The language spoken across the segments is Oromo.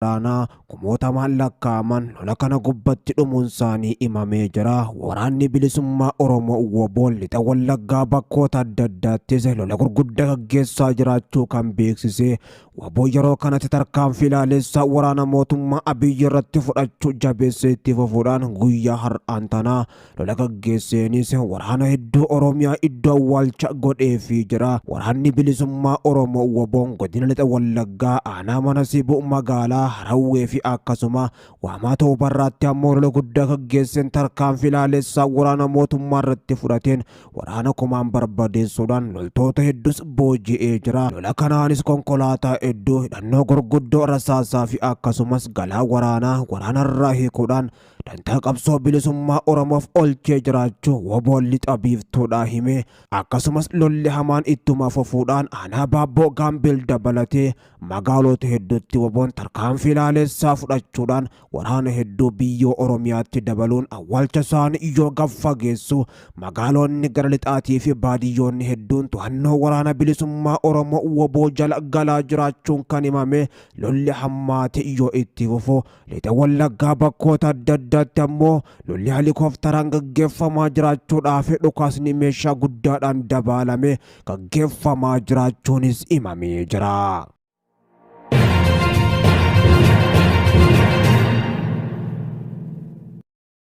waraanaa kumootamaan lakkaa'aman lola kana gubbatti dhumuunsaanii himamee jira. Waraanni Bilisummaa Oromoo wbo Lixa Wallaggaa bakkoota adda addaattis lola gurguddaa gaggeessaa jiraachuu kan beeksise wbo yeroo kanatti tarkaanfii laalessaa waraana mootummaa Abiyyi irratti fudhachuu jabeessee itti fufuudhaan guyyaa har'aan tanaa Lola gaggeesseenis waraana hedduu Oromiyaa iddoo awwaalcha godheefii jira. Waraanni bilisummaa Oromoo Waboon godina lixa Wallaggaa aanaa mana Sibuu magaalaa Harawwee fi akkasuma waamaa Toobarraatti ammoo lola guddaa gaggeesseen tarkaanfii laalessaa waraana mootummaa irratti fudhateen waraana kumaan barbadeessuudhaan loltoota hedduus booji'ee jira. Lola kanaanis konkolaataa hedduu hidhannoo gurguddoo rasaasaa fi akkasumas galaa waraanaa waraanarraa hiikuudhaan dantaa qabsoo bilisummaa Oromoof olchee jiraachuu woboon lixa biiftuudhaa himee akkasumas lolli hamaan ittuma fufuudhaan aanaa baabboo gaambil dabalatee magaalota hedduutti woboon tarkaanfii laalessaa fudhachuudhaan waraana hedduu biyyoo Oromiyaatti dabaluun awwaalcha isaanii yoo gab fageessu magaaloonni gara lixaatii fi baadiyyoonni hedduun to'annoo waraana bilisummaa Oromoo woboo jala galaa jiraachuun kan himame lolli hammaate yoo itti fufu Lixa Wallaggaa bakkoota adda addaatti ammoo lolli helikoftaraan gaggeeffamaa jiraachuudhaa fi dhukaasni meeshaa guddaadhaan dabaalame gaggeeffamaa jiraachuunis himamee jira.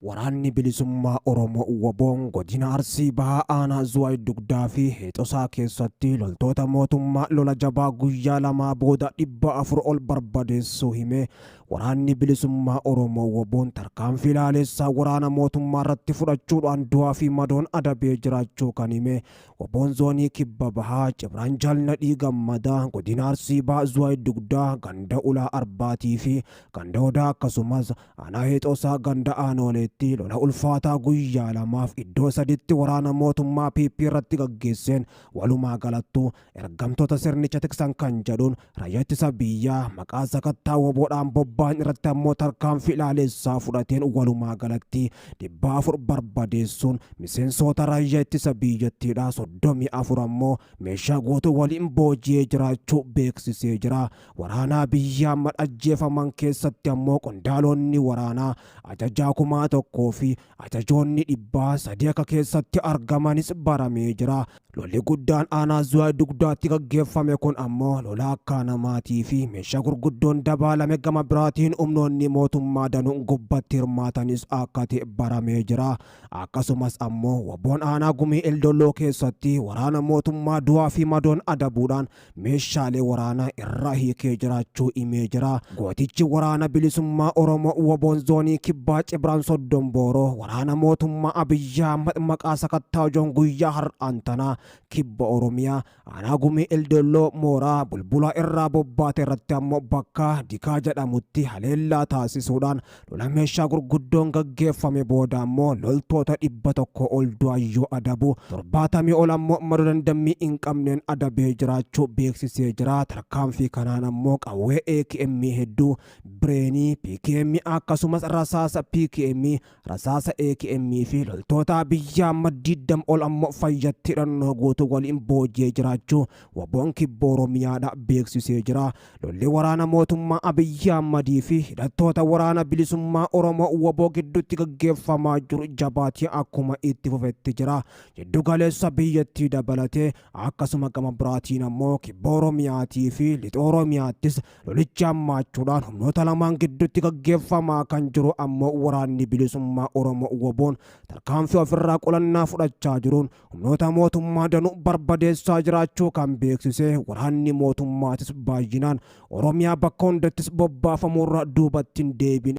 Waraanni Bilisummaa Oromoo, wbo, Godina Arsii Bahaa Aanaa Zuwaay Dugdaa fi Heexosaa keessatti loltoota mootummaa lola jabaa guyyaa lamaa booda 400 ol barbadeessuu hime Waraanni Bilisummaa Oromoo, wbo'n tarkaanfii laaleessaa waraana mootummaa irratti fudhachuudhaan du'aa fi madoon adabee jiraachuu kan hime wbo'n Zoonii Kibba Bahaa, Cibraan Jaal Nadhii Gammadaa, Godina Arsii Bahaa Zuwaay Dugdaa, Ganda Ulaa Arbaatii fi Ganda Odaa akkasumas, Aanaa Heexoosaa ganda Aanooleetti lola ulfaataa guyyaa lamaaf iddoo saditti waraana mootummaa PP irratti gaggeesseen walumaa galattuu ergamtoota sirnicha tiksan kan jedhuun raayyaa ittisa biyyaa maqaa sakattaa woboodhaan bobba'an irratti ammoo tarkaanfii ilaaleessaa fudhateen walumaa galatti dhibba afur barbadeessuun miseensoota raayyaa ittisa biyyattiidhaa soddomii afur ammoo meeshaa guutuu waliin booji'ee jiraachuu beeksisee jira. Waraanaa biyya amma ajjeefaman keessatti ammoo qondaaloonni waraanaa ajajaa kumaa tokkoo fi ajajoonni dhibbaa sadii akka keessatti argamanis baramee jira. Lolli guddaan aanaa Zuwaay Dugdaatti gaggeeffame kun ammoo lola akka namaatii fi meeshaa gurguddoon dabaalame gama biraatiin humnoonni mootummaa danuun gubbatti hirmaatanis akka ta'e baramee jira. Akkasumas ammoo waboon aanaa gumii Eldolloo keessatti waraana mootummaa du'aa fi madoon adabuudhaan meeshaalee waraanaa irraa hiikee jiraachuu himee jira. Gootichi waraana bilisummaa Oromoo Waboon Zoonii Kibbaa Cibraan Soddon Booroo waraana mootummaa Abiyyi Ahmad maqaa sakattaajoon guyyaa har'aan tanaa Kibba Oromiyaa aanaa Gumii Eldolloo mooraa bulbulaa irraa bobbaate irratti ammoo bakka Dikaa jedhamutti haleellaa taasisuudhaan Lola meeshaa gurguddoon gaggeeffame booda ammoo loltoota dhibba tokko ol du'an yoo adabu, torbaatamii ol ammoo madoo dandammii hin qabneen adabee jiraachuu beeksisee jira. Tarkaanfii kanaan ammoo qawwee AKM hedduu, bireenii, PKM akkasumas rasaasa PKM, rasaasa AKM fi loltoota biyyaa kuma digdama ol ammoo fayyatti hidhannoo guutuu waliin booji'ee jiraachuu Wabon Kibba Oromiyaadha beeksisee jira. Lolli waraana mootummaa Abiyyi Ahmadii fi hidhattoota Waraana Bilisummaa Oromoo wbo gidduutti gaggeeffamaa jiru jabaatee akkuma itti fufetti jira. Jiddu galeessa biyyattii dabalatee akkasuma gama biraatiin ammoo Kibba Oromiyaatii fi Lixa Oromiyaattis lolichi hammaachuudhaan humnoota lamaan gidduutti gaggeeffamaa kan jiru ammoo Waraanni Bilisummaa Oromoo wboon tarkaanfii ofirraa qolannaa fudhachaa jiruun humnoota mootummaa danuu barbadeessaa jiraachuu kan beeksise waraanni mootummaatis baay'inaan Oromiyaa bakka hundattis bobbaafamuurra duubatti hin deebine.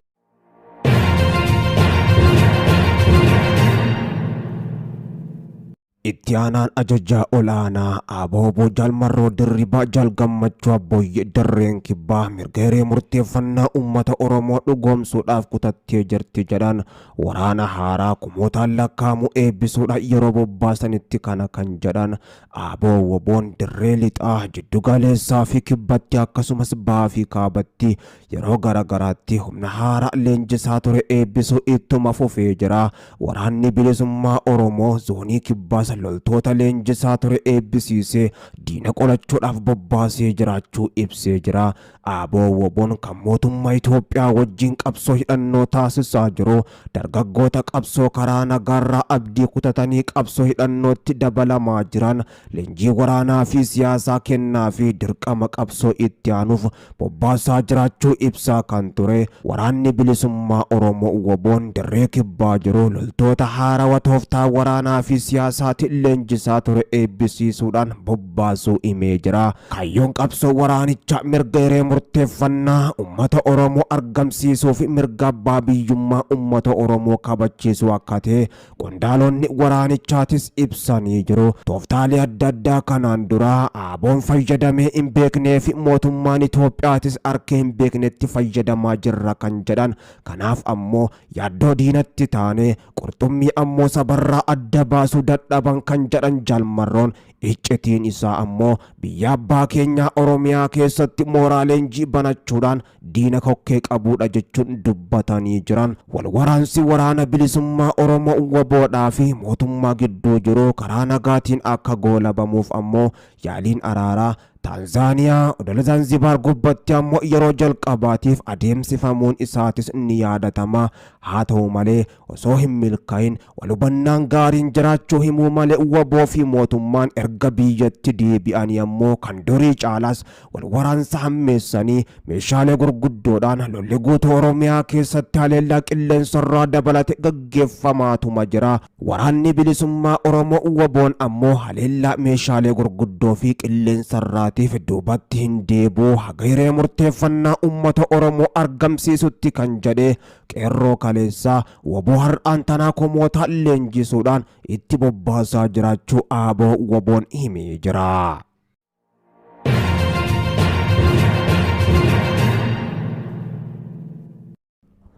Itti aanaan ajajaa olaanaa Aboobo Jaalmarroo Dirribaa Jaal Gammachuu Abboyyee Dirreen Kibbaa mirga hiree murteeffannaa uummata Oromoo dhugoomsuudhaaf kutattee jirti jedhan waraana haaraa kumootaan lakkaa'amu eebbisuudhaan yeroo bobbaasanitti kana kan jedhan aaboo woboon dirree lixaa jiddu galeessaa fi kibbatti akkasumas bahaa fi kaabatti yeroo garagaraatti humna haaraa leenjisaa ture eebbisuu ittuma fufee jira waraanni bilisummaa oromoo zoonii kibbaas loltoota leenjisaa ture eebbisiisee diina qolachuudhaaf bobbaasee jiraachuu ibsee jira ABO-WBOn kan mootummaa Itoophiyaa wajjin qabsoo hidhannoo taasisaa jiru dargaggoota qabsoo karaa nagaarraa abdii kutatanii qabsoo hidhannootti dabalamaa jiran leenjii waraanaa fi siyaasaa kennaa fi dirqama qabsoo itti aanuuf bobbaasaa jiraachuu ibsaa kan ture waraanni bilisummaa Oromoo WBOn dirree kibbaa jiru loltoota haarawa tooftaa waraanaa fi siyaasaatiin leenjisaa ture eebbisiisuudhaan baasuu himee jira. Kaayyoon qabsoo waraanichaa mirga hiree murteeffannaa ummata Oromoo argamsiisuu fi mirga abbaa biyyummaa ummata Oromoo kabachiisuu akka ta'e qondaalonni waraanichaatis ibsanii jiru. Tooftaalee adda addaa kanaan dura ABOn fayyadamee hin beeknee fi mootummaan Itoophiyaatis arkee hin beeknetti fayyadamaa jirra kan jedhan kanaaf ammoo yaaddoo diinatti taane qurxummii ammoo sabarraa adda baasuu dadhaban kan jedhan Jaal Marroon Iccitiin isaa ammoo biyya abbaa keenyaa Oromiyaa keessatti mooraa leenjii banachuudhaan diina kokkee qabuudha jechuun dubbatanii jiran. Wal waraansi Waraana Bilisummaa Oromoo WBOdhaa fi mootummaa gidduu jiru karaa nagaatiin akka goolabamuuf ammoo yaaliin araaraa Taanzaaniyaa odola Zanzibaar gubbatti ammoo yeroo jalqabaatiif adeemsifamuun isaatis ni yaadatama. Haa ta'u malee osoo hin milkaa'in Wal hubannaan gaariin jiraachuu himuu male wbo fi mootummaan erga biyyatti deebi'anii ammoo kan durii caalaas wal waraansa hammeessanii meeshaalee gurguddoodhaan lolli guutuu Oromiyaa keessatti haleellaa qilleensarraa dabalate gaggeeffamaatuma jira. Waraanni Bilisummaa Oromoo wbo'n ammoo haleellaa meeshaalee gurguddoo fi qilleensarraatiif duubatti hin deebi'u haga hiree murteeffannaa uummata Oromoo argamsiisutti kan jedhe Qeerroo kaleessaa Waboo har'aan tanaa komoota leenjisuudhaan itti bobbaasaa jiraachuu aaboo waboon himee jira.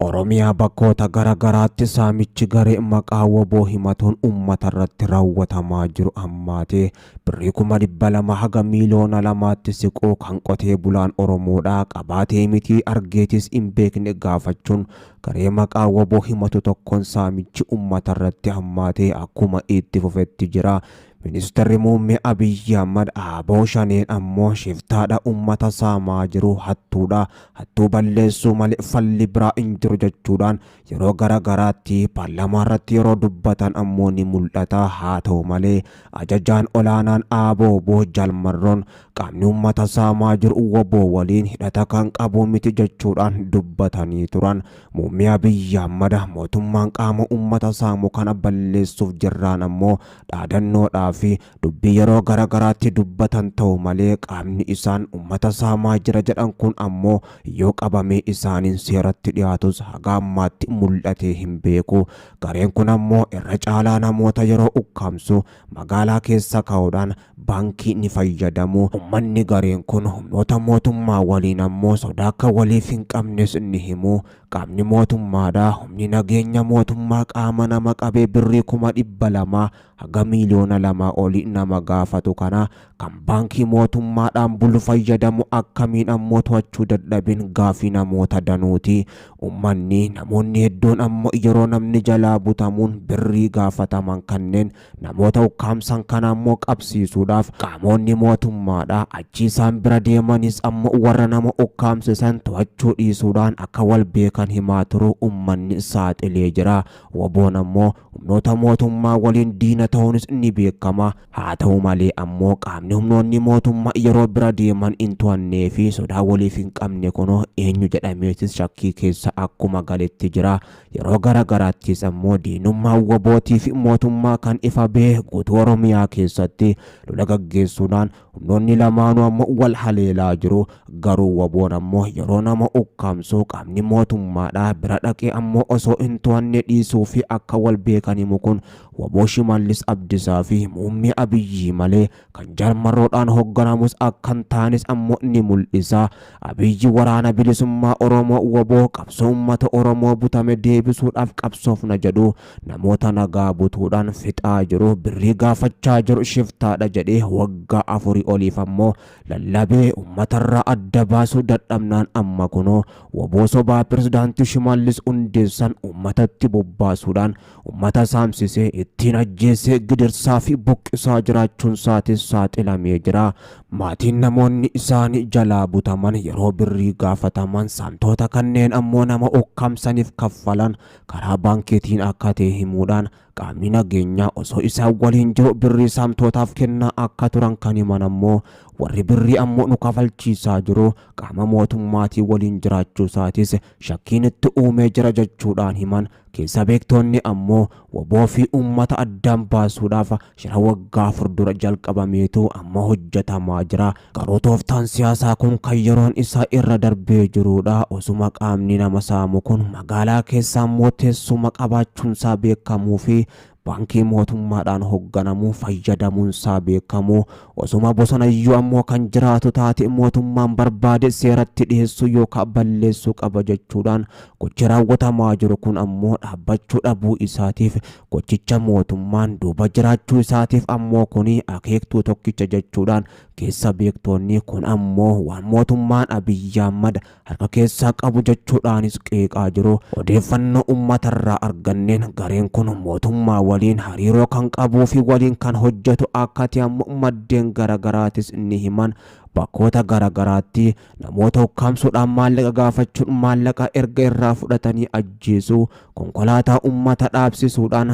Oromiyaa bakkoota gara garaatti saamichi garee maqaa waboo himatuun uummata irratti raawwatamaa jiru hammaatee birrii kuma dhibba lama haga miiliyoona lamaatti siquu kan qotee bulaan Oromoodhaa qabaatee mitii argeetis hin beekne gaafachuun garee maqaa wbo himatu tokkoon saamichi ummatarratti hammaatee akkuma itti fufetti jira. Ministarri Muummee Abiyyi Ahmad abo Shaneen ammoo shiftaadha ummata saamaa jiru, hattuudha, hattuu balleessuu malee falli biraa hin jiru jechuudhaan yeroo gara garaatti paarlamaarratti yeroo dubbatan ammoo ni mul'ata. Haata'u malee Ajajaan olaanaan abo, wbo Jaal Marroon qaamni uummata saamaa jiru wbo waliin hidhata kan qabu miti jechuudhaan dubbatanii turan. Muummee Abiyyi Ahmad mootummaan qaama uummata saamu kana balleessuuf jirraan ammoo dhaadannoodhaa fi dubbii yeroo gara garaatti dubbatan ta'u malee qaamni isaan uummata saamaa jira jedhan kun ammoo yoo qabamee isaaniin seeratti dhiyaatus haga ammaatti mul'atee hin beeku. Gareen kun ammoo irra caalaa namoota yeroo ukkaamsu magaalaa keessa kaa'uudhaan baankii ni fayyadamu. Ummanni gareen kun humnoota mootummaa waliin ammoo sodaa akka waliif hin qabnes ni himu. Qaamni mootummaadha, humni nageenya mootummaa qaama nama qabee birrii kuma dhibba lama haga miiliyoona lamaa oli nama gaafatu kana kan baankii mootummaadhaan bulu fayyadamu akkamiin ammoo to'achuu dadhabin gaafii namoota danuuti. Ummanni, namoonni hedduun ammoo yeroo namni jalaa butamuun birrii gaafataman kanneen namoota ukkaamsan kana ammoo qabsiisuudhaaf qaamoonni mootummaadhaa achi isaan bira deemanis ammoo warra nama ukkaamse san to'achuu dhiisuudhaan akka wal beekan himaa turuu ummanni saaxilee jira. Woboon ammoo. Humnoota mootummaa waliin diina ta'uunis ni beekama. Haa ta'u malee ammoo qaamni humnoonni mootummaa yeroo bira deeman hin to'annee fi sodaa waliif hin qabne kun eenyu jedhameetis shakkii keessa akkuma galetti jira. Yeroo gara garaattis ammoo diinummaan wbo tiif mootummaa kan ifa bahe guutuu Oromiyaa keessatti lola gaggeessuudhaan Humnoonni lamaanuu ammo wal haleelaa jiru. Garuu wbo'n ammo yeroo nama ukkaamsu qaamni mootummaadhaa bira dhaqee ammo osoo hin to'anne dhiisuu fi akka wal beekan himu kun wbo Shimallis Abdisaa fi Muummee Abiyyii malee kan Jaal Marroodhaan hogganamus akka hin taanes ammo ni mul'isa. Abiyyi Waraana Bilisummaa Oromoo, wbo, qabsoo uummata Oromoo butame deebisuudhaaf qabsoofna jedhu. Namoota nagaa butuudhaan fixaa jiru, birrii gaafachaa jiru, shiftaadha jedhee waggaa afurii oliif ammoo lallabee ummatarraa adda baasuu dadhabnaan amma kunoo wbo sobaa Pirezidaanti Shimallis hundeessan ummatatti bobbaasuudhaan ummata saamsisee, ittiin ajjeessee, gidirsaa fi buqqisaa jiraachuunsaatis saaxilamee jira. Maatiin namoonni isaanii jalaa butaman yeroo birrii gaafataman, saamtoota kanneen ammoo nama ukkaamsaniif kaffalan karaa baankiitiin akka ta'e himuudhaan qaamni nageenyaa osoo isaan waliin jiru birrii saamtootaaf kennaa akka turan kan himan ammoo warri birrii ammoo nu kafalchiisaa jiru qaama mootummaatii waliin jiraachuu isaatis shakkiin itti uumee jira jechuudhaan himan keessa beektoonni ammoo waboo fi uummata addaan baasuudhaaf shira waggaa afur dura jalqabameetu amma hojjetamaa jira Garuu tooftaan siyaasaa kun kan yeroon isaa irra darbee jiruudha. Osuma qaamni nama saamu kun magaalaa keessaa immoo teessuma qabaachuunsaa beekamuufi baankii mootummaadhaan hogganamu fayyadamuunsaa beekamu, osuma bosonayyuu ammoo kan jiraatu taate mootummaan barbaade seeratti dhiheessuu yookaa balleessuu qaba jechuudhaan gochi raawwatamaa jiru kun ammoo dhaabbachuu dhabuu isaatiif Gochicha mootummaan duuba jiraachuu isaatiif ammoo kuni akeektuu tokkicha jechuudhaan keessa beektoonni kun ammoo waan mootummaan Abiyyi Ahmad harka keessaa qabu jechuudhaanis qeeqaa jiru. Odeeffannoo ummatarraa arganneen gareen kun mootummaa waliin hariiroo kan qabuufi waliin kan hojjetu akka ta'e ammoo maddeen garagaraatis ni himan. Bakkoota garagaraatti. namoota ukkaamsuudhaan maallaqa gaafachuun maallaqa erga irraa fudhatanii ajjeesuu konkolaataa ummata dhaabsisuudhaan